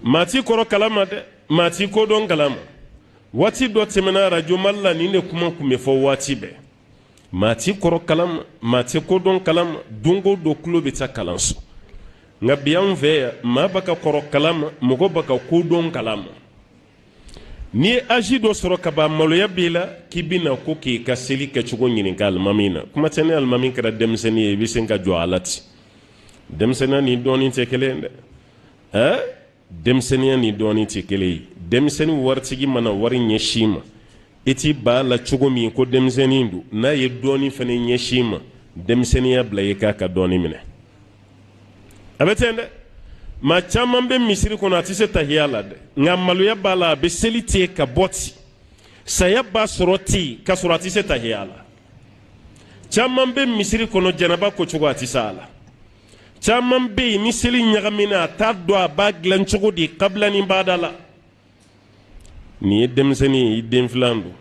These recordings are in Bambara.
maa tɛ kɔrɔ kalan ma dɛ maa tɛ kodɔn kalan ma waati dɔ tɛmɛna arajo mali la nin de kuma tun bɛ fɔ waati bɛɛ maa tɛ kɔrɔ kalan ma maa tɛ kodɔn kalan ma don o don tulo bɛ taa kalanso nka bi anw fɛ yan maa b'a ka kɔrɔ kalan ma mɔgɔ b'a ka kodɔn kalan ma N'i ye aji dɔ sɔrɔ ka ban maloya b'i la k'i bɛ na ko k'i ka seli kɛcogo ɲininka alimami na kuma tɛ ni alimami kɛra denmisɛnnin ye i bɛ se ka jɔ a la ten denmisɛnninya ni dɔnni tɛ kelen dɛ ɛɛ denmisɛnninya ni dɔnni tɛ kelen ye denmisɛnnin waritigi mana wari ɲɛsin i ma i t'i ban a la cogo min ko denmisɛnnin don n'a ye dɔnni fana ɲɛsin i ma denmisɛnninya bila yen k'a ka dɔnni minɛ a bɛ ten dɛ maa caman bɛ misiri kɔnɔ a tɛ se tahiya la dɛ nka maloya b'a la a bɛ seli ten ka bɔ ten saya b'a sɔrɔ ten ka sɔrɔ a tɛ se tahiya la caman bɛ misiri kɔnɔ janaba kocogo a tɛ se a la caman bɛ yen ni seli ɲagamina a t'a dɔn a b'a dilan cogo di kabila ni baada la nin ye denmisɛnnin ye i den filan don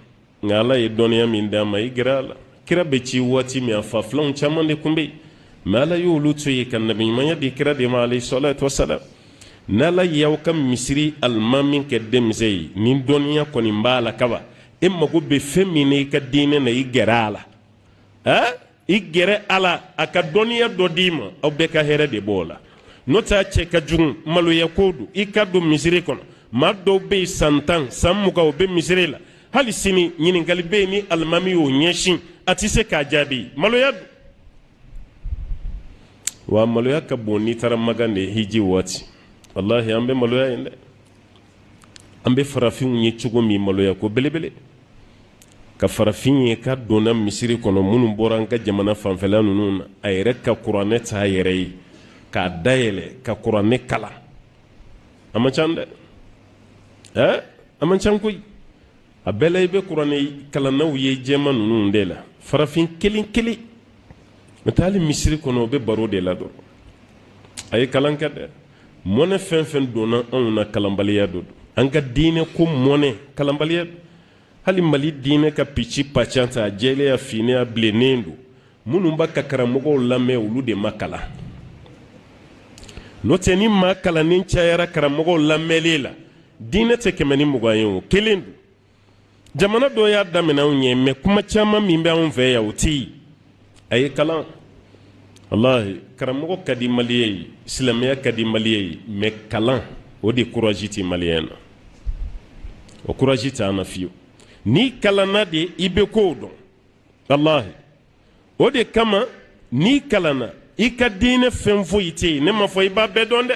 nka ala ye dɔnniya min d'a ma i gɛrɛ a la kira bɛ ci waati min a fa filanw caman de tun bɛ yen mɛ ala y'olu to yen ka nabiɲumanya di kira de ma alayhi salatu wasalam n'ala y'aw ka misiri alimami kɛ denmisɛn ye ni dɔnniya kɔni b'a la ka ban i mago bɛ fɛn min na i ka diinɛ na i gɛrɛ a la i gɛrɛ a la a ka dɔnniya dɔ d'i ma aw bɛɛ ka hɛrɛ de b'o la n'o tɛ a cɛ ka jugu maloya ko don i ka don misiri kɔnɔ maa dɔw bɛ yen san tan san mugan u bɛ misiri la hali sini ɲininkali bɛ yen ni alimami y'o ɲɛsin a tɛ se k'a jaabi maloya don wa maloya ka bon n'i taara makan dɛ hiji waati walahi an bɛ maloya yen dɛ an bɛ farafinw ye cogo min maloya ko belebele ka farafin ye k'a donna misiri kɔnɔ minnu bɔra an ka jamana fanfɛla ninnu na a yɛrɛ ka kuranɛ ta a yɛrɛ ye k'a dayɛlɛ ka kuranɛ kalan a man ca dɛ ɛɛ a man ca koyi a bɛɛ la i bɛ kuranɛ kalannaw ye jɛman ninnu de la farafin kelen kelen mɛ taa hali misiri kɔnɔ u bɛ baro de la dɔrɔn a ye kalan kɛ dɛ mɔnɛ fɛn fɛn donna anw na kalanbaliya don an ka diinɛ ko mɔnɛ kalanbaliya hali mali diinɛ ka pici pacan ta a jɛlen a finnen a bilennen don minnu b'a ka karamɔgɔw lamɛn olu de ma kalan n'o tɛ ni maa kalannen cayara karamɔgɔw lamɛnlen la diinɛ tɛ kɛmɛ ni mugan ye o kelen don jamana dɔ y'a daminɛ anw ɲɛ mɛ kuma caman min bɛ anw fɛ yan o tɛ yen a ye kalan walahi karamɔgɔ ka di maliyɛn ye silamɛya ka di maliyɛn ye mɛ kalan o de kuraji tɛ maliyɛn na o kuraji tɛ an na fiyewu n'i kalanna de i bɛ kow dɔn walahi o de kama n'i kalanna i ka diinɛ fɛn foyi tɛ ne m'a fɔ i b'a bɛɛ dɔn dɛ